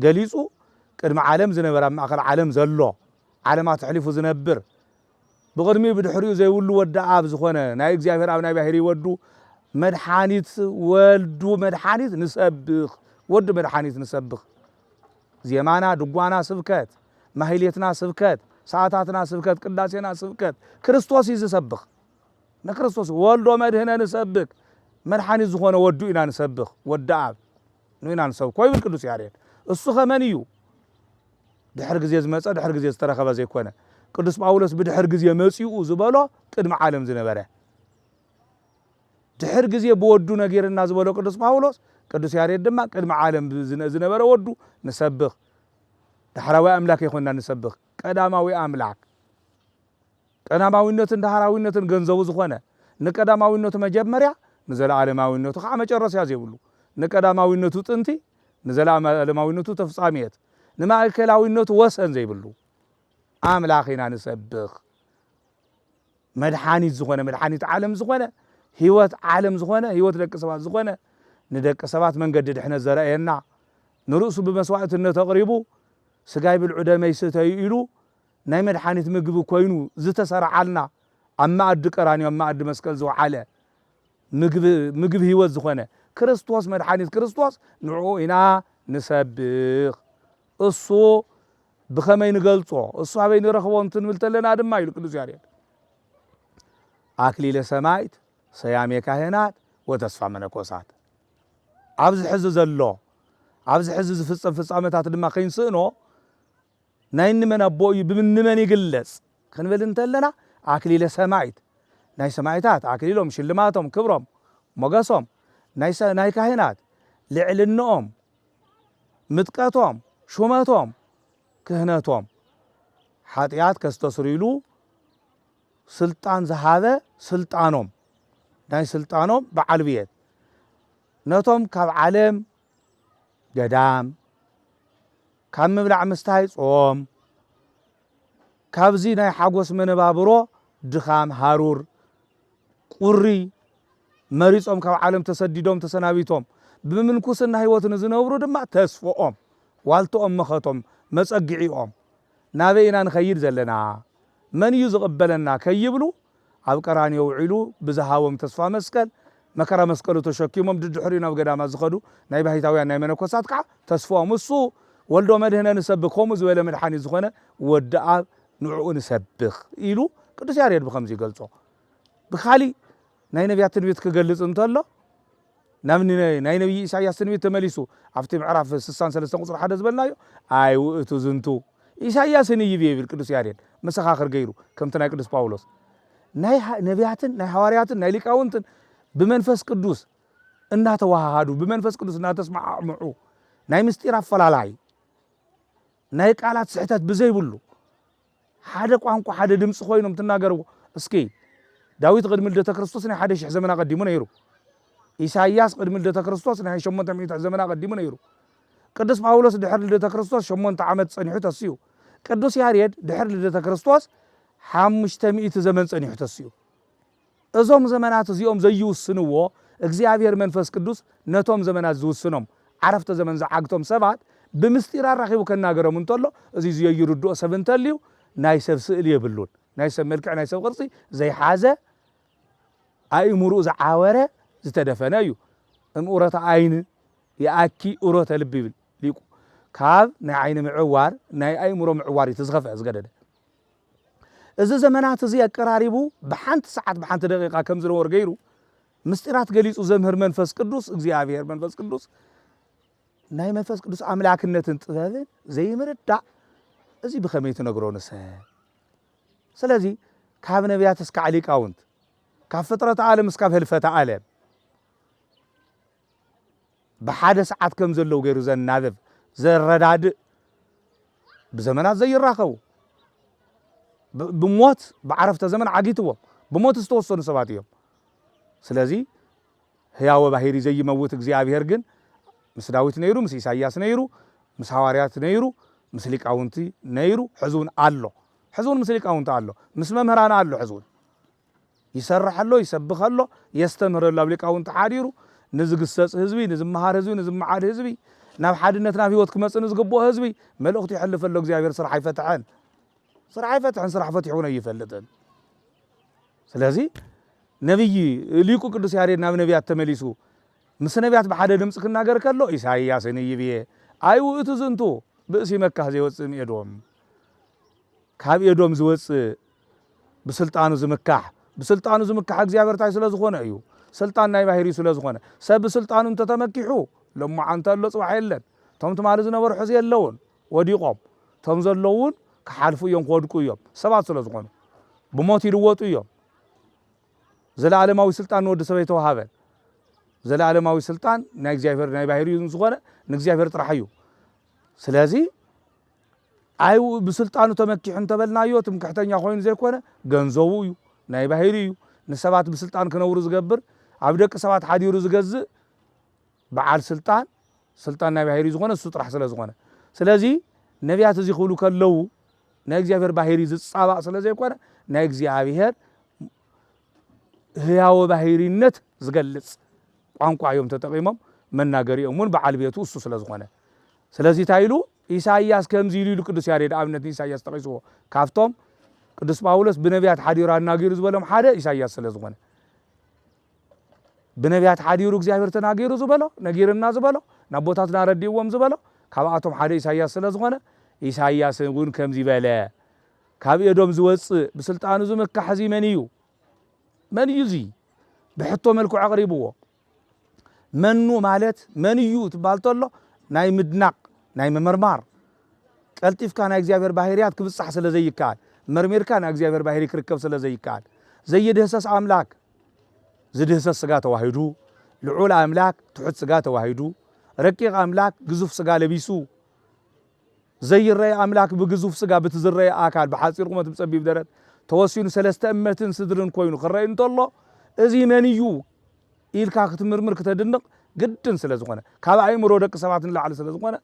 ገሊጹ ቅድሚ ዓለም ዝነበረ ኣብ ማእከል ዓለም ዘሎ ዓለማት ኣሕሊፉ ዝነብር ብቕድሚኡ ብድሕሪኡ ዘይብሉ ወዲ ኣብ ዝኾነ ናይ እግዚኣብሔር ኣብ ናይ ባሕሪ ወዱ መድሓኒት ወልዱ መድሓኒት ንሰብኽ ወዱ መድሓኒት ንሰብኽ ዜማና ድጓና ስብከት ማህሌትና ስብከት ሰዓታትና ስብከት ቅዳሴና ስብከት ክርስቶስ እዩ ዝሰብኽ ንክርስቶስ ወልዶ መድህነ ንሰብክ መድሓኒት ዝኾነ ወዱ ኢና ንሰብኽ ወዲ ኣብ ኑኢና ንሰብኮ ይብል ቅዱስ ያሬድ እሱኸ መን እዩ ድሕር ግዜ ዝመጸ ድሕር ግዜ ዝተረኸበ ዘይኮነ ቅዱስ ጳውሎስ ብድሕር ግዜ መጺኡ ዝበሎ ቅድሚ ዓለም ዝነበረ ድሕር ግዜ ብወዱ ነጊርና ዝበሎ ቅዱስ ጳውሎስ ቅዱስ ያሬድ ድማ ቅድሚ ዓለም ዝነበረ ወዱ ንሰብኽ ዳሕራዊ ኣምላክ ይኮና ንሰብኽ ቀዳማዊ ኣምላክ ቀዳማዊነትን ዳህራዊነትን ገንዘቡ ዝኾነ፣ ንቀዳማዊነቱ መጀመርያ፣ ንዘለዓለማዊነቱ ኸዓ መጨረስያ ዘይብሉ፣ ንቀዳማዊነቱ ጥንቲ፣ ንዘለዓለማዊነቱ ተፍጻምየት፣ ንማእከላዊነቱ ወሰን ዘይብሉ ኣምላኽ ኢና ንሰብኽ። መድሓኒት ዝኾነ፣ መድሓኒት ዓለም ዝኾነ፣ ህይወት ዓለም ዝኾነ፣ ህይወት ደቂ ሰባት ዝኾነ፣ ንደቂ ሰባት መንገዲ ድሕነት ዘረኣየና፣ ንርእሱ ብመስዋእትነት ኣቕሪቡ፣ ስጋይ ብልዑ ደመይ ስተዩ ኢሉ፣ ናይ መድሓኒት ምግቢ ኮይኑ ዝተሰረዓልና ኣብ መኣዲ ቀራንዮ ኣብ መኣዲ መስቀል ዝወዓለ ምግቢ ምግቢ ህይወት ዝኾነ ክርስቶስ መድሓኒት ክርስቶስ ንዕኡ ኢና ንሰብኽ እሱ ብኸመይ ንገልጾ እሱ ኣበይ ንረኽቦ እንትንብል ተለና ድማ ኢሉ ቅዱስ ያሬድ ኣክሊለ ሰማይት ሰያሜ ካህናት ወተስፋ መነኮሳት ኣብዚ ሕዚ ዘሎ ኣብዚ ሕዚ ዝፍጸም ፍጻመታት ድማ ከይንስእኖ ናይ እንመን ኣቦ እዩ ብምንመን ይግለጽ ክንብል እንተለና ኣክሊለ ሰማይት ናይ ሰማይታት ኣክሊሎም ሽልማቶም ክብሮም ሞገሶም ናይ ናይ ካህናት ልዕልንኦም ምጥቀቶም ሹመቶም ክህነቶም ሓጢኣት ከስተስርይሉ ስልጣን ዝሃበ ስልጣኖም ናይ ስልጣኖም በዓል ብየት ነቶም ካብ ዓለም ገዳም ካብ ምብላዕ ምስታይ ጾም ካብዚ ናይ ሓጎስ መነባብሮ ድኻም ሃሩር ቁሪ መሪጾም ካብ ዓለም ተሰዲዶም ተሰናቢቶም ብምንኩስና ህይወት ንዝነብሩ ድማ ተስፍኦም ዋልትኦም መኸቶም መጸግዒኦም ናበይ ኢና ንኸይድ ዘለና መን እዩ ዝቕበለና ከይብሉ ኣብ ቀራንዮ ውዒሉ ብዝሃቦም ተስፋ መስቀል፣ መከራ መስቀሉ ተሸኪሞም ድድሕሪኡ ናብ ገዳማት ዝኸዱ ናይ ባሕታውያን ናይ መነኮሳት ከኣ ተስፍኦም እሱ ወልዶ መድኅነ ንሰብክ ከምኡ ዝበለ መድሓኒት ዝኾነ ወዲ ኣብ ንዕኡ ንሰብክ ኢሉ ቅዱስ ያሬድ ብኸምዚ ይገልጾ። ብካሊእ ናይ ነቢያት ትንቢት ክገልጽ እንተሎ፣ ናብ ናይ ነብዪ ኢሳይያስ ትንቢት ተመሊሱ ኣብቲ ምዕራፍ ስሳን ሰለስተን ቁጽሪ ሓደ ዝበልናዮ ኣይ ውእቱ ዝንቱ ኢሳይያስን ኢይብ ይብል ቅዱስ ያሬድ መሰኻኽር ገይሩ ከምቲ ናይ ቅዱስ ጳውሎስ ናይ ነቢያትን ናይ ሃዋርያትን ናይ ሊቃውንትን ብመንፈስ ቅዱስ እናተዋሃሃዱ ብመንፈስ ቅዱስ እናተስማዕምዑ ናይ ምስጢር ኣፈላላይ ናይ ቃላት ስሕተት ብዘይብሉ ሓደ ቋንቋ ሓደ ድምጺ ኮይኖም ትናገርዎ እስኪ ዳዊት ቕድሚ ልደተ ክርስቶስ ናይ ሓደ ሽሕ ዘመን ኣቐዲሙ ነይሩ ኢሳይያስ ቕድሚ ልደተ ክርስቶስ ናይ ሸሞንተ ሚእቲ ዘመን ኣቐዲሙ ነይሩ ቅዱስ ጳውሎስ ድሕሪ ልደተ ክርስቶስ ሸሞንተ ዓመት ጸኒሑ ተስዩ ቅዱስ ያሬድ ድሕሪ ልደተ ክርስቶስ ሓሙሽተ ሚእቲ ዘመን ጸኒሑ ተስዩ እዞም ዘመናት እዚኦም ዘይውስንዎ እግዚኣብሔር መንፈስ ቅዱስ ነቶም ዘመናት ዝውስኖም ዓረፍተ ዘመን ዝዓግቶም ሰባት ብምስጢር ኣራኺቡ ከናገሮም እንተሎ እዚ ዝየይርድኦ ሰብ እንተልዩ ናይ ሰብ ስእሊ የብሉን ናይ ሰብ መልክዕ ናይ ሰብ ቅርጺ ዘይሓዘ ኣእምርኡ ዝዓወረ ዝተደፈነ እዩ እም ኡረተ ኣይን ይኣኪ ኡረተ ልቢ ይብል ሊቁ ካብ ናይ ዓይኒ ምዕዋር ናይ ኣእምሮ ምዕዋር እዩ እቲ ዝኸፍዐ ዝገደደ እዚ ዘመናት እዚ ኣቀራሪቡ ብሓንቲ ሰዓት ብሓንቲ ደቂቃ ከም ዝነወር ገይሩ ምስጢራት ገሊጹ ዘምህር መንፈስ ቅዱስ እግዚኣብሔር መንፈስ ቅዱስ ናይ መንፈስ ቅዱስ ኣምላክነትን ጥበብን ዘይምርዳእ እዚ ብኸመይ ትነግሮ ንሰ ስለዚ ካብ ነቢያት እስካዕ ሊቃውንት ካብ ፍጥረት ዓለም እስካብ ህልፈተ ዓለም ብሓደ ሰዓት ከም ዘለዉ ገይሩ ዘናብብ፣ ዘረዳድእ፣ ብዘመናት ዘይራኸቡ፣ ብ- ብሞት ብዓረፍተ ዘመን ዓጊትዎም ብሞት ዝተወሰኑ ሰባት እዮም። ስለዚ ህያወ ባሂሪ ዘይመውት እግዚኣብሔር ግን ምስ ዳዊት ነይሩ፣ ምስ ኢሳይያስ ነይሩ፣ ምስ ሃዋርያት ነይሩ፣ ምስ ሊቃውንቲ ነይሩ፣ ሕዚ እውን ኣሎ። ሕዚ እውን ምስ ሊቃውንቲ ኣሎ፣ ምስ መምህራን ኣሎ። ሕዚ እውን ይሰርሕ ኣሎ፣ ይሰብኽ ኣሎ፣ የስተምህር ኣሎ፣ ኣብ ሊቃውንቲ ሓዲሩ ንዝግሰጽ ህዝቢ፣ ንዝመሃር ህዝቢ፣ ንዝመዓድ ህዝቢ፣ ናብ ሓድነት ናብ ህይወት ክመጽእ ንዝግብኦ ህዝቢ መልእኽቱ የሕልፍ ኣሎ። እግዚኣብሔር ስራሕ ኣይፈትሐን፣ ስራሕ ኣይፈትሐን፣ ስራሕ ፈቲሑ እውን ኣይፈልጥን። ስለዚ ነቢይ ሊቁ ቅዱስ ያሬድ ናብ ነቢያት ተመሊሱ ምስ ነቢያት ብሓደ ድምፂ ክናገር ከሎ ኢሳይያስ ንይብዬ ኣይ ውእቱ ዝንቱ ብእሲ መካህ ዘይወፅእ እምኤዶም ካብ ኤዶም ዝወፅእ ብስልጣኑ ዝምካሕ ብስልጣኑ ዝምካሕ እግዚኣብሔር ታይ ስለ ዝኾነ እዩ ስልጣን ናይ ባህሪኡ ስለ ዝኾነ ሰብ ብስልጣኑ እንተተመኪሑ ሎማዓንቲ ኣሎ ፅባሕ የለን እቶም ትማሊ ዝነበሩ ሕዚ የለውን ወዲቖም እቶም ዘለዉ እውን ክሓልፉ እዮም ክወድቁ እዮም ሰባት ስለ ዝኾኑ ብሞት ይልወጡ እዮም ዘለኣለማዊ ስልጣን ንወዲ ሰብ ኣይተዋሃበን ዘለኣለማዊ ስልጣን ናይ እግዚኣብሔር ናይ ባህሪኡ ዝኾነ ንእግዚኣብሔር ጥራሕ እዩ ስለዚ ኣይውኡ ብስልጣኑ ተመኪሑ እንተበልናዮ ትምክሕተኛ ኮይኑ ዘይኮነ ገንዘቡ እዩ ናይ ባሂሪ እዩ ንሰባት ብስልጣን ክነብሩ ዝገብር ኣብ ደቂ ሰባት ሓዲሩ ዝገዝእ በዓል ስልጣን ስልጣን ናይ ባሂሪ ዝኾነ እሱ ጥራሕ ስለ ዝኾነ ስለዚ ነቢያት እዚ ክብሉ ከለዉ ናይ እግዚኣብሔር ባሂሪ ዝጻባእ ስለ ዘይኮነ ናይ እግዚኣብሔር ህያወ ባሂሪነት ዝገልጽ ቋንቋ እዮም ተጠቂሞም መናገሪኦም እውን በዓል ቤቱ እሱ ስለ ዝኾነ ስለዚ እንታይ ኢሉ ኢሳይያስ ከምዚ ኢሉ ኢሉ ቅዱስ ያሬድ ኣብነት ንኢሳይያስ ጠቒስዎ ካብቶም ቅዱስ ጳውሎስ ብነቢያት ሓዲሩ ኣናጊሩ ዝበሎም ሓደ ኢሳይያስ ስለ ዝኾነ ብነቢያት ሓዲሩ እግዚኣብሔር ተናጊሩ ዝበሎ ነጊርና ዝበሎ ናብ ቦታትና ኣረዲእዎም ዝበሎ ካብኣቶም ሓደ ኢሳይያስ ስለ ዝኾነ ኢሳይያስ እውን ከምዚ በለ ካብ ኤዶም ዝወፅእ ብስልጣኑ ዝምካሕ እዚ መን እዩ መን እዩ እዚ ብሕቶ መልክዑ ኣቕሪብዎ መኑ ማለት መን እዩ ትባል ተሎ ናይ ምድናቕ ናይ ምምርማር ቀልጢፍካ ናይ እግዚኣብሔር ባህርያት ክብጻሕ ስለ ዘይከኣል መርሚርካ ናይ እግዚኣብሔር ባህሪ ክርከብ ስለ ዘይከኣል ዘይድህሰስ ኣምላክ ዝድህሰስ ስጋ ተዋሂዱ ልዑል ኣምላክ ትሑት ስጋ ተዋሂዱ ረቂቕ ኣምላክ ግዙፍ ስጋ ለቢሱ ዘይረኤ ኣምላክ ብግዙፍ ስጋ ብቲ ዝረኤ ኣካል ብሓጺር ቁመት ብጸቢብ ደረት ተወሲኑ ሰለስተ እመትን ስድርን ኮይኑ ክረኤ እንተሎ እዚ መን እዩ ኢልካ ክትምርምር ክተድንቅ ግድን ስለ ዝኮነ ካብ ኣእምሮ ደቂ ሰባት ንላዕሊ ስለ ዝኮነ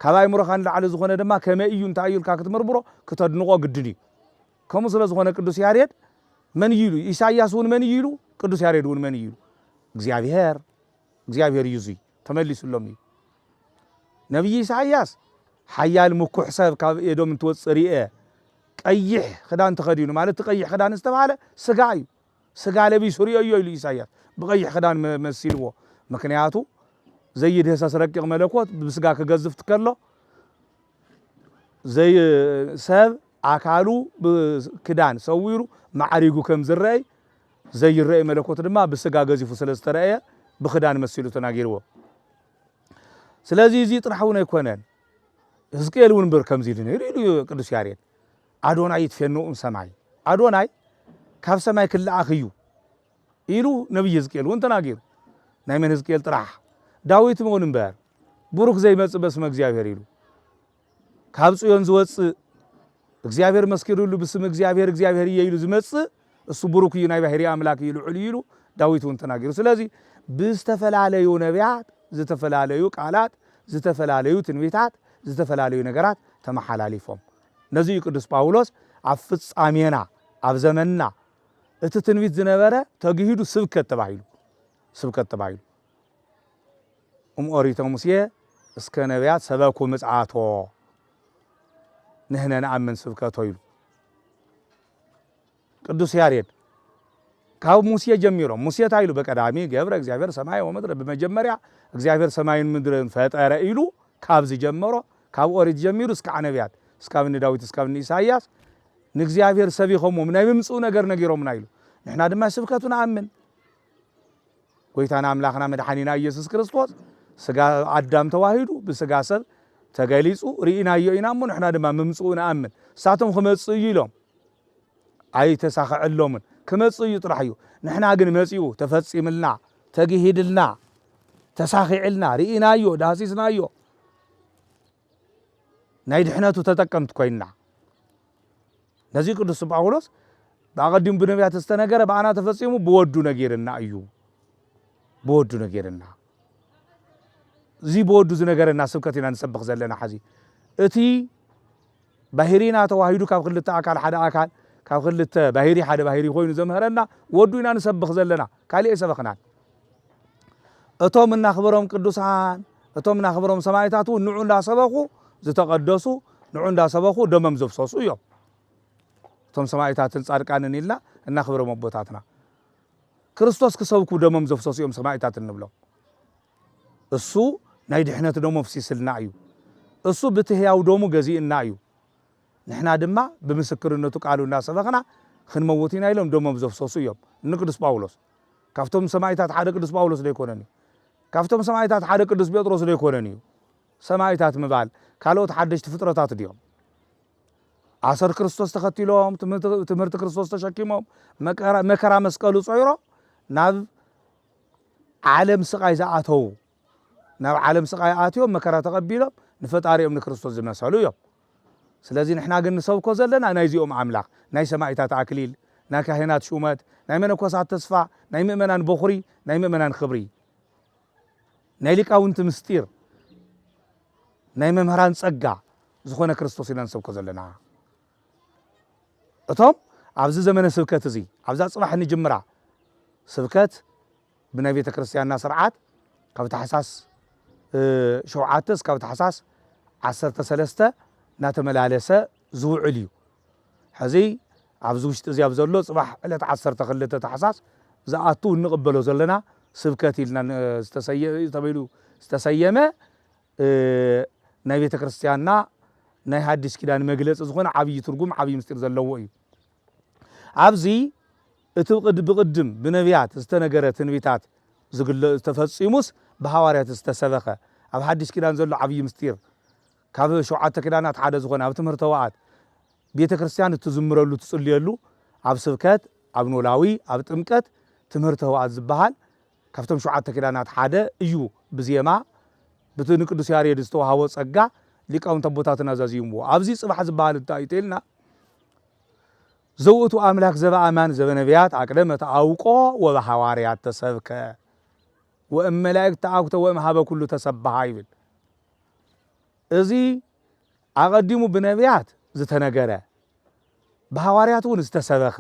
ካብ ኣእምሮካ ንላዕሊ ዝኮነ ድማ ከመይ እዩ እንታይ እዩ ኢልካ ክትምርምሮ ክተድንቆ ግድን እዩ ከምኡ ስለ ዝኮነ ቅዱስ ያሬድ መን እዩ ኢሉ ኢሳያስ እውን መን እዩ ኢሉ ቅዱስ ያሬድ እውን መን እዩ ኢሉ እግዚኣብሔር እግዚኣብሔር እዩ እዙይ ተመሊሱሎም እዩ። ነብዪ ኢሳይያስ ሓያል ምኩሕ ሰብ ካብ ኤዶም እንትወጽእ ርኤ። ቀይሕ ክዳን ተኸዲኑ ማለት እቲ ቀይሕ ክዳን ዝተባህለ ስጋ እዩ። ስጋ ለቢሱ ርኤዮ ኢሉ ኢሳይያስ ብቀይሕ ክዳን መሲልዎ። ምክንያቱ ዘይድህሰስ ረቂቕ መለኮት ብስጋ ክገዝፍ ትከሎ ሰብ ኣካሉ ብክዳን ሰዊሩ ማዕሪጉ ከም ዝረአይ ዘይረእይ መለኮት ድማ ብሥጋ ገዚፉ ስለ ዝተረእየ ብክዳን መሲሉ ተናጊርዎ። ስለዚ እዚ ጥራሕ እውን ኣይኮነን ሕዝቅኤል እውን ብር ከምዚ ኢሉ ነይሩ ኢሉ ቅዱስ ያሬድ ኣዶናይ ይትፌንኡም ሰማይ ኣዶናይ ካብ ሰማይ ክለኣኽ እዩ ኢሉ ነቢይ ሕዝቅኤል እውን ተናጊሩ ናይ መን ሕዝቅኤል ጥራሕ ዳዊት እውን እምበር ቡሩክ ዘይመጽእ በስመ እግዚኣብሔር ኢሉ ካብ ጽዮን ዝወጽእ እግዚኣብሔር መስኪሩሉ ብስም እግዚኣብሔር እግዚኣብሔር እየ ኢሉ ዝመጽእ እሱ ብሩክ እዩ ናይ ባሕሪ ኣምላክ እዩ ልዑል እዩ ኢሉ ዳዊት እውን ተናጊሩ ስለዚ ብዝተፈላለዩ ነቢያት ዝተፈላለዩ ቃላት ዝተፈላለዩ ትንቢታት ዝተፈላለዩ ነገራት ተመሓላሊፎም ነዚ እዩ ቅዱስ ጳውሎስ ኣብ ፍጻሜና ኣብ ዘመንና እቲ ትንቢት ዝነበረ ተግሂዱ ስብከት ተባሂሉ ስብከት ተባሂሉ እም ኦሪተ ሙሴ እስከ ነቢያት ሰበኩ ምጽኣቶ ንህነ ንኣምን ስብከቶ ይሉ ቅዱስ ያሬድ ካብ ሙሴ ጀሚሮም ሙሴ ታይ ኢሉ በቀዳሚ ገብረ እግዚኣብሔር ሰማይ ወምድረ ብመጀመርያ እግዚኣብሔር ሰማይን ምድርን ፈጠረ ኢሉ ካብ ዝጀመሮ ካብ ኦሪት ጀሚሩ እስካዕ ነቢያት እስካብ እኒ ዳዊት እስካብ እኒ ኢሳይያስ ንእግዚኣብሔር ሰቢኸሞም ናይ ምምፅኡ ነገር ነጊሮምና ኢሉ ንሕና ድማ ስብከቱ ንኣምን ጎይታና ኣምላኽና መድሓኒና ኢየሱስ ክርስቶስ ስጋ ኣዳም ተዋሂዱ ብስጋ ሰብ ተገሊጹ ርኢናዮ ኢና እሞ ንሕና ድማ ምምፅኡ ንኣምን እሳቶም ክመፅእ እዩ ኢሎም ኣይተሳኸዐሎምን ክመፅእ እዩ ጥራሕ እዩ ንሕና ግን መፂኡ ተፈፂምልና ተግሂድልና ተሳኺዕልና ርኢናዮ ዳህሲስናዮ ናይ ድሕነቱ ተጠቀምቲ ኮይንና። ነዚ ቅዱስ ጳውሎስ ብኣቐዲሙ ብነቢያት ዝተነገረ ብኣና ተፈጺሙ ብወዱ ነጊርና እዩ። ብወዱ ነጊርና እዚ ብወዱ ዝነገረና ስብከት ኢና ንሰብኽ ዘለና ሓዚ እቲ ባሂሪና ተዋሂዱ ካብ ክልተ ኣካል ሓደ ኣካል ካብ ክልተ ባሂሪ ሓደ ባሂሪ ኮይኑ ዘምህረና ወዱ ኢና ንሰብኽ ዘለና ካሊእ ኣይሰበኽናን እቶም እናኽብሮም ቅዱሳን እቶም እናኽብሮም ሰማይታት እውን ንዑ እንዳሰበኹ ዝተቐደሱ ንዑ እንዳሰበኹ ደመም ዘፍሰሱ እዮም እቶም ሰማይታትን ጻድቃንን ኢልና እናኽብሮም ኣቦታትና ክርስቶስ ክሰብኩ ደመም ዘፍሰሱ እዮም ሰማይታት እንብሎም እሱ ናይ ድሕነት ደሙ ኣፍሲስልና እዩ። እሱ ብቲ ህያው ደሙ ገዚእና እዩ። ንሕና ድማ ብምስክርነቱ ቃሉ እናሰበኽና ኽንመውት ኢና ኢሎም ደሞም ዘፍሰሱ እዮም። እኒ ቅዱስ ጳውሎስ ካብቶም ሰማይታት ሓደ ቅዱስ ጳውሎስ ዶ ኣይኮነን እዩ? ካብቶም ሰማይታት ሓደ ቅዱስ ጴጥሮስ ዶ ኣይኮነን እዩ? ሰማይታት ምባል ካልኦት ሓደሽቲ ፍጥረታት ድዮም? ኣሰር ክርስቶስ ተኸቲሎም ትምህርቲ ክርስቶስ ተሸኪሞም መከራ መስቀሉ ጾይሮም ናብ ዓለም ስቓይ ዝኣተዉ፣ ናብ ዓለም ስቓይ ኣትዮም መከራ ተቐቢሎም ንፈጣሪኦም ንክርስቶስ ዝመሰሉ እዮም። ስለዚ ንሕና ግን ንሰብኮ ዘለና ናይዚኦም ኣምላኽ፣ ናይ ሰማኢታት ኣክሊል፣ ናይ ካህናት ሹመት፣ ናይ መነኮሳት ተስፋ፣ ናይ ምእመናን በኹሪ፣ ናይ ምእመናን ክብሪ፣ ናይ ሊቃውንቲ ምስጢር፣ ናይ መምህራን ጸጋ ዝኾነ ክርስቶስ ኢና ንሰብኮ ዘለና። እቶም ኣብዚ ዘመነ ስብከት እዚ ኣብዛ ጽባሕ እንጅምራ ስብከት ብናይ ቤተ ክርስቲያንና ስርዓት ካብ ታሕሳስ ሸውዓተ እስካብ ታሕሳስ ዓሰርተ ሰለስተ እናተመላለሰ ዝውዕል እዩ ሕዚ ኣብዚ ውሽጢ እዚ ኣብ ዘሎ ጽባሕ ዕለት ዓሰርተ ክልተ ታሕሳስ ዝኣቱ እንቕበሎ ዘለና ስብከት ኢልና ዝተሰየ ተበይሉ ዝተሰየመ ናይ ቤተ ክርስቲያንና ናይ ሃዲስ ኪዳን መግለጺ ዝኾነ ዓብይ ትርጉም ዓብይ ምስጢር ዘለዎ እዩ። ኣብዚ እቲ ብቅድም ብነቢያት ዝተነገረ ትንቢታት ተፈጺሙስ ብሃዋርያት ዝተሰበኸ ኣብ ሓዲስ ኪዳን ዘሎ ዓብይ ምስጢር ካብ ሸውዓተ ኪዳናት ሓደ ዝኾነ ኣብ ትምህርተ ወኣት ቤተ ክርስቲያን እትዝምረሉ እትጽልየሉ ኣብ ስብከት ኣብ ኖላዊ ኣብ ጥምቀት ትምህርተ ወኣት ዝበሃል ካብቶም ሸውዓተ ኪዳናት ሓደ እዩ ብዜማ ብቲ ንቅዱስ ያሬድ ዝተዋሃቦ ጸጋ ሊቃውንት ኣቦታትና ኣዛዚምዎ ኣብዚ ጽባሕ ዝበሃል እንታይ እዩ ተልና ዘውእቱ ኣምላክ ዘበኣማን ዘበነብያት ኣቅደመ ተኣውቆ ወበሃዋርያት ተሰብከ ወእም መላእክት ተኣኩተ ወእም ሃበ ኩሉ ተሰብሃ ይብል እዚ ኣቐዲሙ ብነብያት ዝተነገረ ብሃዋርያት እውን ዝተሰበኸ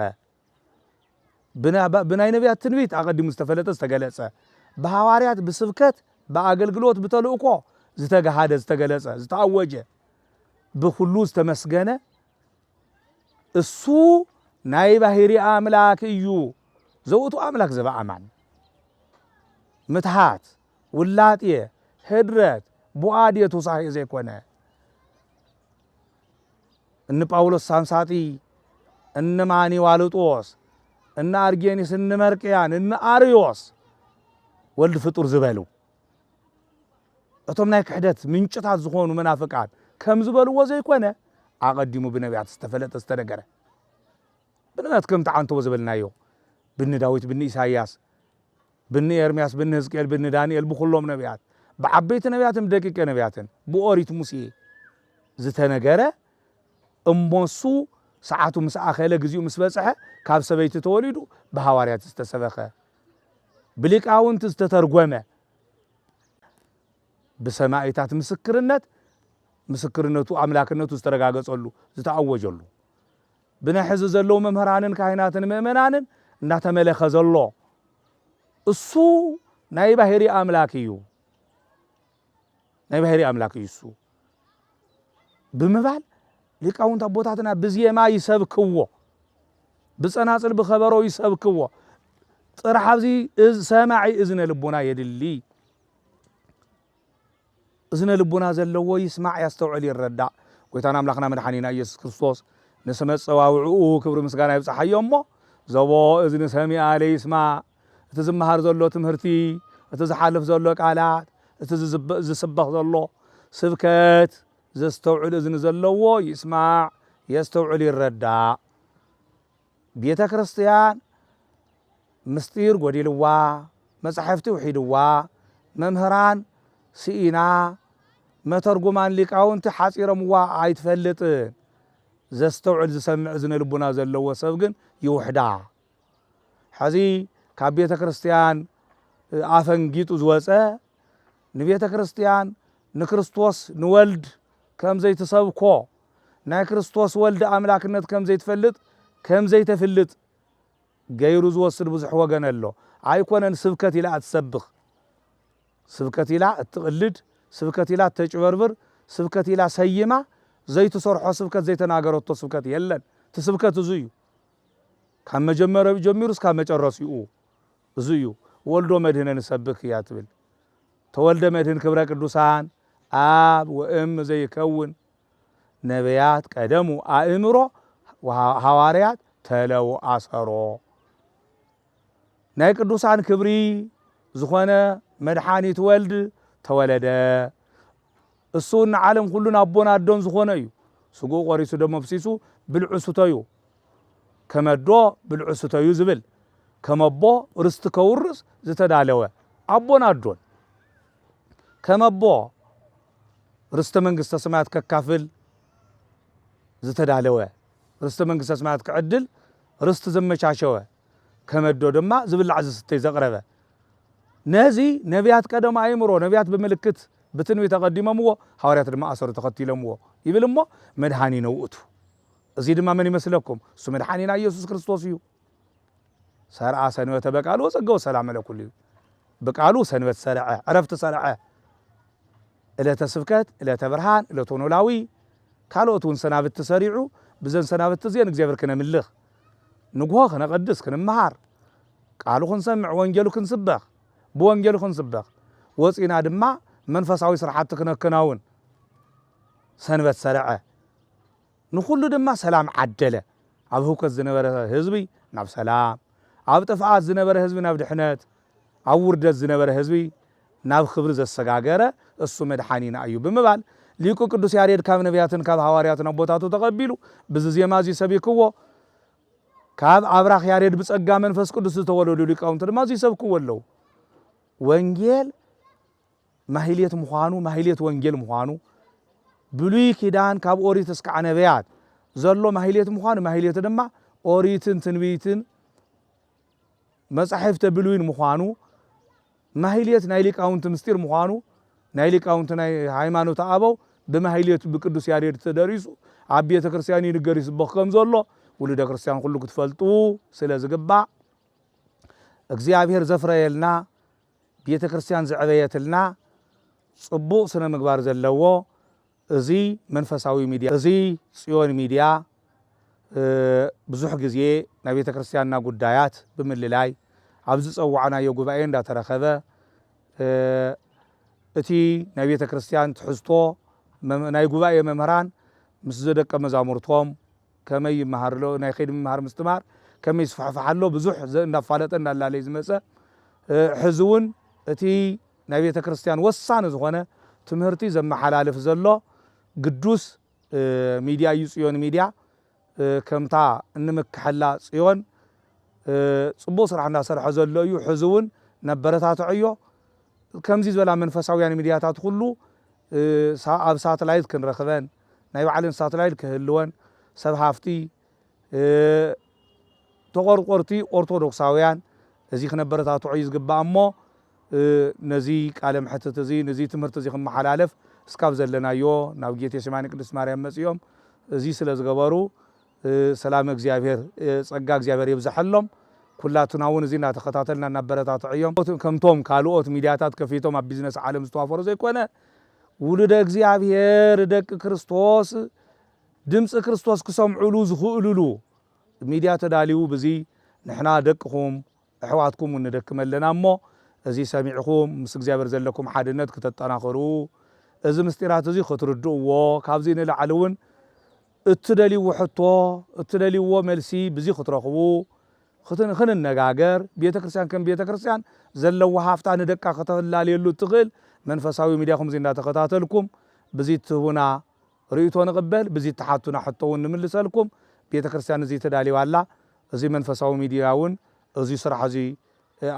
ብናይ ነብያት ትንቢት ኣቐዲሙ ዝተፈለጠ ዝተገለጸ፣ ብሃዋርያት ብስብከት ብኣገልግሎት ብተልእኮ ዝተገሃደ ዝተገለጸ ዝተኣወጀ ብኹሉ ዝተመስገነ እሱ ናይ ባህሪ ኣምላክ እዩ ዘውእቱ ኣምላክ ዘበኣማን ምትሃት ውላጤ ህድረት ቡኣድ የቱሳሄ ዘይኮነ እኒ ጳውሎስ ሳምሳጢ፣ እኒ ማኒ ዋልጦስ፣ እኒ ኣርጌኒስ፣ እኒ መርቅያን፣ እኒ ኣርዮስ ወልድ ፍጡር ዝበሉ እቶም ናይ ክሕደት ምንጭታት ዝኾኑ መናፍቃን ከም ዝበልዎ ዘይኮነ ኣቐዲሙ ብነቢያት ዝተፈለጠ ዝተነገረ ብነቢያት ከም ተዓንተዎ ዝበልናዮ ብኒ ዳዊት ብኒ ኢሳይያስ ብኒ ኤርምያስ ብኒ ህዝቅኤል ብኒ ዳንኤል ብኩሎም ነብያት ብዓበይቲ ነብያትን ብደቂቀ ነብያትን ብኦሪት ሙሴ ዝተነገረ እሞሱ ሰዓቱ ምስ ኣኸለ ግዚኡ ምስ በጽሐ ካብ ሰበይቲ ተወሊዱ ብሃዋርያት ዝተሰበኸ ብሊቃውንቲ ዝተተርጎመ ብሰማኢታት ምስክርነት ምስክርነቱ ኣምላክነቱ ዝተረጋገጸሉ ዝተኣወጀሉ ብናይ ሕዚ ዘለዉ መምህራንን ካህናትን ምእመናንን እናተመለከ ዘሎ እሱ ናይ ባህሪ ኣምላክ እዩ ናይ ባህሪ ኣምላክ እዩ እሱ ብምባል ሊቃውንት ኣቦታትና ብዜማ ይሰብክዎ ብጸናጽል ብኸበሮ ይሰብክዎ ጥራሕ ኣብዚ ሰማዒ እዝነ ልቦና የድሊ እዝነ ልቡና ዘለዎ ይስማዕ ያስተውዕል ይረዳእ ጎይታና ኣምላኽና መድሓኒና ኢየሱስ ክርስቶስ ንስመ ኣጸዋውዕኡ ክብሪ ምስጋና ይብጽሓዮ እሞ ዘቦ እዝኒ ሰሚኣ ለይስማዕ እቲ ዝመሃር ዘሎ ትምህርቲ እቲ ዝሓልፍ ዘሎ ቃላት እቲ ዝስበኽ ዘሎ ስብከት ዘስተውዕል እዝኒ ዘለዎ ይስማዕ የስተውዕል ይረዳእ ቤተ ክርስትያን ምስጢር ጎዲልዋ፣ መጻሕፍቲ ውሒድዋ፣ መምህራን ስኢና፣ መተርጉማን ሊቃውንቲ ሓጺሮምዋ ኣይትፈልጥን። ዘስተውዕል ዝሰምዕ እዝነ ልቡና ዘለዎ ሰብ ግን ይውሕዳ። ሕዚ ካብ ቤተ ክርስትያን ኣፈንጊጡ ዝወጸ ንቤተ ክርስቲያን ንክርስቶስ ንወልድ ከም ዘይትሰብኮ ናይ ክርስቶስ ወልድ ኣምላክነት ከም ዘይትፈልጥ ከም ዘይተፍልጥ ገይሩ ዝወስድ ብዙሕ ወገን ኣሎ ኣይኮነን ስብከት ኢላ እትሰብኽ ስብከት ኢላ እትቕልድ ስብከት ኢላ እተጭበርብር ስብከት ኢላ ሰይማ ዘይትሰርሖ ስብከት ዘይተናገረቶ ስብከት የለን እቲ ስብከት እዙ እዩ ካብ መጀመሪያኡ ጀሚሩ እስካብ መጨረሲኡ እዙ እዩ ወልዶ መድህነ ንሰብክ እያ ትብል ተወልደ መድህን ክብረ ቅዱሳን ኣብ ወእም ዘይከውን ነብያት ቀደሙ ኣእምሮ ሃዋርያት ተለው ኣሰሮ ናይ ቅዱሳን ክብሪ ዝኾነ መድሓኒት ወልድ ተወለደ እሱ ንዓለም ኩሉን ኣቦን ኣዶን ዝኾነ እዩ ስግኡ ቆሪሱ ደሞ ፍሲሱ ብልዑ ስተዩ ከመ'ዶ ብልዑ ስተዩ ዝብል፣ ከመ'ቦ ርስቲ ከውርስ ዝተዳለወ ኣቦን ኣዶን፣ ከመ'ቦ ርስተ መንግስተ ሰማያት ከካፍል ዝተዳለወ፣ ርስተ መንግስተ ሰማያት ክዕድል ርስቲ ዘመቻቸወ፣ ከመ'ዶ ድማ ዝብላዕ ዝስተይ ዘቕረበ፣ ነዚ ነብያት ቀደም ኣእምሮ፣ ነብያት ብምልክት ብትንቢት ኣቐዲሞምዎ፣ ሃዋርያት ድማ ኣሰሩ ተኸቲሎምዎ ይብል እሞ መድኃኒነ ውእቱ። እዚ ድማ መን ይመስለኩም? እሱ መድሓኒና ኢየሱስ ክርስቶስ እዩ። ሰርዐ ሰንበተ በቃሉ ወጸገው ሰላም ለኩሉ እዩ። ብቃሉ ሰንበት ሰርዐ፣ ዕረፍቲ ሰርዐ። ዕለተ ስብከት፣ ዕለተ ብርሃን፣ ዕለተ ኖላዊ ካልኦት እውን ሰናብቲ ሰሪዑ ብዘን ሰናብቲ እዚአን እግዚኣብሔር ክነምልኽ ንግሆ ክነቐድስ ክንመሃር ቃሉ ክንሰምዕ ወንጌሉ ክንስበኽ ብወንጌሉ ክንስበኽ ወፂና ድማ መንፈሳዊ ስራሕቲ ክነከናውን ሰንበት ሰርዐ፣ ንኹሉ ድማ ሰላም ዓደለ። ኣብ ህውከት ዝነበረ ህዝቢ ናብ ሰላም፣ ኣብ ጥፍኣት ዝነበረ ህዝቢ ናብ ድሕነት፣ ኣብ ውርደት ዝነበረ ህዝቢ ናብ ክብሪ ዘሰጋገረ እሱ መድሓኒና እዩ ብምባል ሊቁ ቅዱስ ያሬድ ካብ ነብያትን ካብ ሃዋርያትን ኣቦታቱ ተቐቢሉ ብዚ ዜማ እዚ ሰቢክዎ ካብ ኣብራኽ ያሬድ ብጸጋ መንፈስ ቅዱስ ዝተወለዱ ሊቃውንቲ ድማ እዚ ይሰብክዎ ኣለዉ። ወንጌል ማህሌት ምዃኑ ማህሌት ወንጌል ምዃኑ ብሉይ ኪዳን ካብ ኦሪት እስካዕ ነቢያት ዘሎ ማህሌት ምዃኑ ማህሌት ድማ ኦሪትን ትንቢትን መጻሕፍተ ብሉይን ምዃኑ ማህሌት ናይ ሊቃውንቲ ምስጢር ምዃኑ ናይ ሊቃውንቲ ናይ ሃይማኖት ኣበው ብማህሌት ብቅዱስ ያሬድ ተደሪሱ ኣብ ቤተ ክርስቲያን ይንገር ይስበኽ ከም ዘሎ ውሉደ ክርስቲያን ኩሉ ክትፈልጡ ስለ ዝግባእ እግዚኣብሔር ዘፍረየልና ቤተ ክርስቲያን ዘዕበየትልና ጽቡቅ ስነ ምግባር ዘለዎ እዚ መንፈሳዊ ሚድያ እዚ ጽዮን ሚድያ ብዙሕ ግዜ ናይ ቤተ ክርስቲያንና ጉዳያት ብምልላይ ኣብ ዝጸዋዕናዮ ጉባኤ እንዳተረኸበ እቲ ናይ ቤተ ክርስቲያን ትሕዝቶ ናይ ጉባኤ መምህራን ምስ ዘደቀ መዛሙርቶም ከመይ ይመሃር ኣሎ ናይ ከይዲ ምምሃር ምስትምሃር ከመይ ይስፋሕፋሕ ኣሎ ብዙሕ እንዳፋለጠ እንዳላለየ ዝመፀ ሕዚ እውን እቲ ናይ ቤተ ክርስቲያን ወሳኒ ዝኾነ ትምህርቲ ዘመሓላልፍ ዘሎ ግዱስ ሚድያ እዩ ፅዮን ሚድያ ከምታ እንምክሐላ ፅዮን ፅቡቅ ስራሕ እንዳሰርሐ ዘሎ እዩ ሕዚ እውን ነበረታትዐዮ ከምዚ ዝበላ መንፈሳውያን ሚድያታት ኩሉ ኣብ ሳትላይት ክንረክበን ናይ ባዕለን ሳትላይት ክህልወን ሰብ ሃፍቲ ተቆርቆርቲ ኦርቶዶክሳውያን እዚ ክነበረታትዖ እዩ ዝግባእ እሞ ነዚ ቃለ መሕትት እዚ ነዚ ትምህርቲ እዚ ክመሓላለፍ እስካብ ዘለናዮ ናብ ጌቴ ሴማኒ ቅድስት ማርያም መጽዮም እዚ ስለ ዝገበሩ ሰላም እግዚኣብሔር ጸጋ እግዚኣብሔር የብዝሐሎም ኩላትና እውን እዚ እናተኸታተልና እናበረታትዐዮም ከምቶም ካልኦት ሚዲያታት ከፊቶም ኣብ ቢዝነስ ዓለም ዝተዋፈሩ ዘይኮነ ውሉደ እግዚኣብሔር ደቂ ክርስቶስ ድምፂ ክርስቶስ ክሰምዑሉ ዝኽእሉሉ ሚድያ ተዳልዩ ብዚ ንሕና ደቅኹም ኣሕዋትኩም እውን ንደክም ኣለና እሞ እዚ ሰሚዕኹም ምስ እግዚኣብሔር ዘለኩም ሓድነት ክተጠናኽሩ እዚ ምስጢራት እዚ ክትርድእዎ ካብዚ ንላዕሊ እውን እትደልይዎ ሕቶ እትደልይዎ መልሲ ብዚ ክትረኽቡ ኽንነጋገር፣ ቤተ ክርስቲያን ከም ቤተ ክርስቲያን ዘለዋ ሃፍታ ንደቃ ከተላልየሉ እትኽእል መንፈሳዊ ሚድያ ኹምዚ እንዳተኸታተልኩም ብዚ እትህቡና ርእይቶ ንቕበል ብዚ እትሓቱና ሕቶ እውን ንምልሰልኩም ቤተ ክርስቲያን እዚ ተዳልዩ ኣላ እዚ መንፈሳዊ ሚድያ እውን እዚ ስራሕ እዚ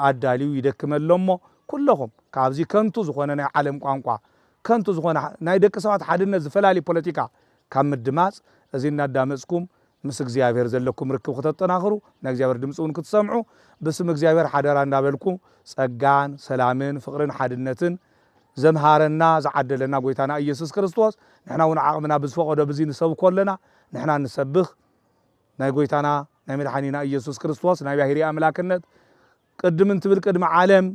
ኣዳልዩ ይደክም ኣሎ እሞ ኩለኹም ካብዚ ከንቱ ዝኾነ ናይ ዓለም ቋንቋ ከንቱ ዝኾነ ናይ ደቂ ሰባት ሓድነት ዝፈላሊ ፖለቲካ ካብ ምድማጽ እዚ እናዳመጽኩም ምስ እግዚኣብሔር ዘለኩም ርክብ ክተጠናኽሩ ናይ እግዚኣብሔር ድምጺ እውን ክትሰምዑ ብስም እግዚኣብሔር ሓደራ እንዳበልኩ ጸጋን ሰላምን ፍቅርን ሓድነትን ዘምሃረና ዝዓደለና ጎይታና ኢየሱስ ክርስቶስ ንሕና እውን ዓቅምና ብዝፈቀዶ ብዚ ንሰብኮ ኣለና ንሕና እንሰብኽ ናይ ጎይታና ናይ መድሓኒና ኢየሱስ ክርስቶስ ናይ ባሕሪ ኣምላክነት ቅድም እንትብል ቅድሚ ዓለም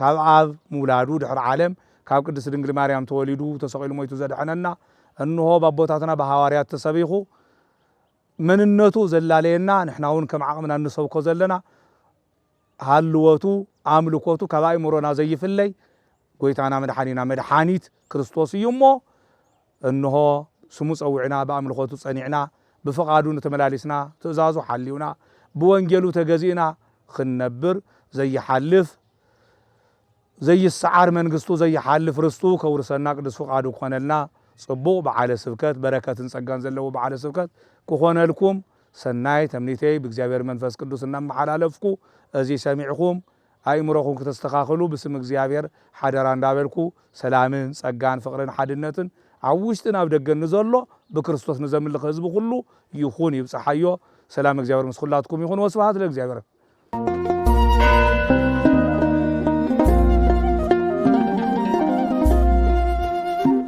ካብ ኣብ ምውላዱ ድሕሪ ዓለም ካብ ቅድስት ድንግል ማርያም ተወሊዱ ተሰቒሉ ሞይቱ ዘድሐነና እንሆ ባቦታትና ብሃዋርያት ተሰቢኹ መንነቱ ዘላለየና ንሕና ውን ከም ዓቕምና እንሰብኮ ዘለና ሃልወቱ ኣምልኮቱ ካብ ኣእምሮና ዘይፍለይ ጎይታና መድሓኒና መድሓኒት ክርስቶስ እዩ እሞ እንሆ፣ ስሙ ጸዊዕና፣ ብኣምልኾቱ ጸኒዕና፣ ብፍቓዱን ተመላሊስና፣ ትእዛዙ ሓሊውና፣ ብወንጌሉ ተገዚእና ኽንነብር፣ ዘይሓልፍ፣ ዘይሰዓር መንግስቱ፣ ዘይሓልፍ ርስቱ ከውርሰና ቅዱስ ፍቓዱ ክኾነልና፣ ጽቡቕ በዓለ ስብከት፣ በረከትን ጸጋን ዘለዎ በዓለ ስብከት ክኾነልኩም ሰናይ ተምኒተይ ብእግዚኣብሔር መንፈስ ቅዱስ እናመሓላለፍኩ፣ እዚ ሰሚዕኹም፣ ኣእምሮኹም ክተስተኻኽሉ ብስም እግዚኣብሔር ሓደራ እንዳበልኩ ሰላምን ጸጋን ፍቕርን ሓድነትን ኣብ ውሽጥን ኣብ ደገን ንዘሎ ብክርስቶስ ንዘምልኽ ህዝቢ ኩሉ ይኹን ይብጽሓዮ ሰላም እግዚኣብሔር ምስ ኩላትኩም ይኹን ወስብሃት ለእግዚኣብሔር።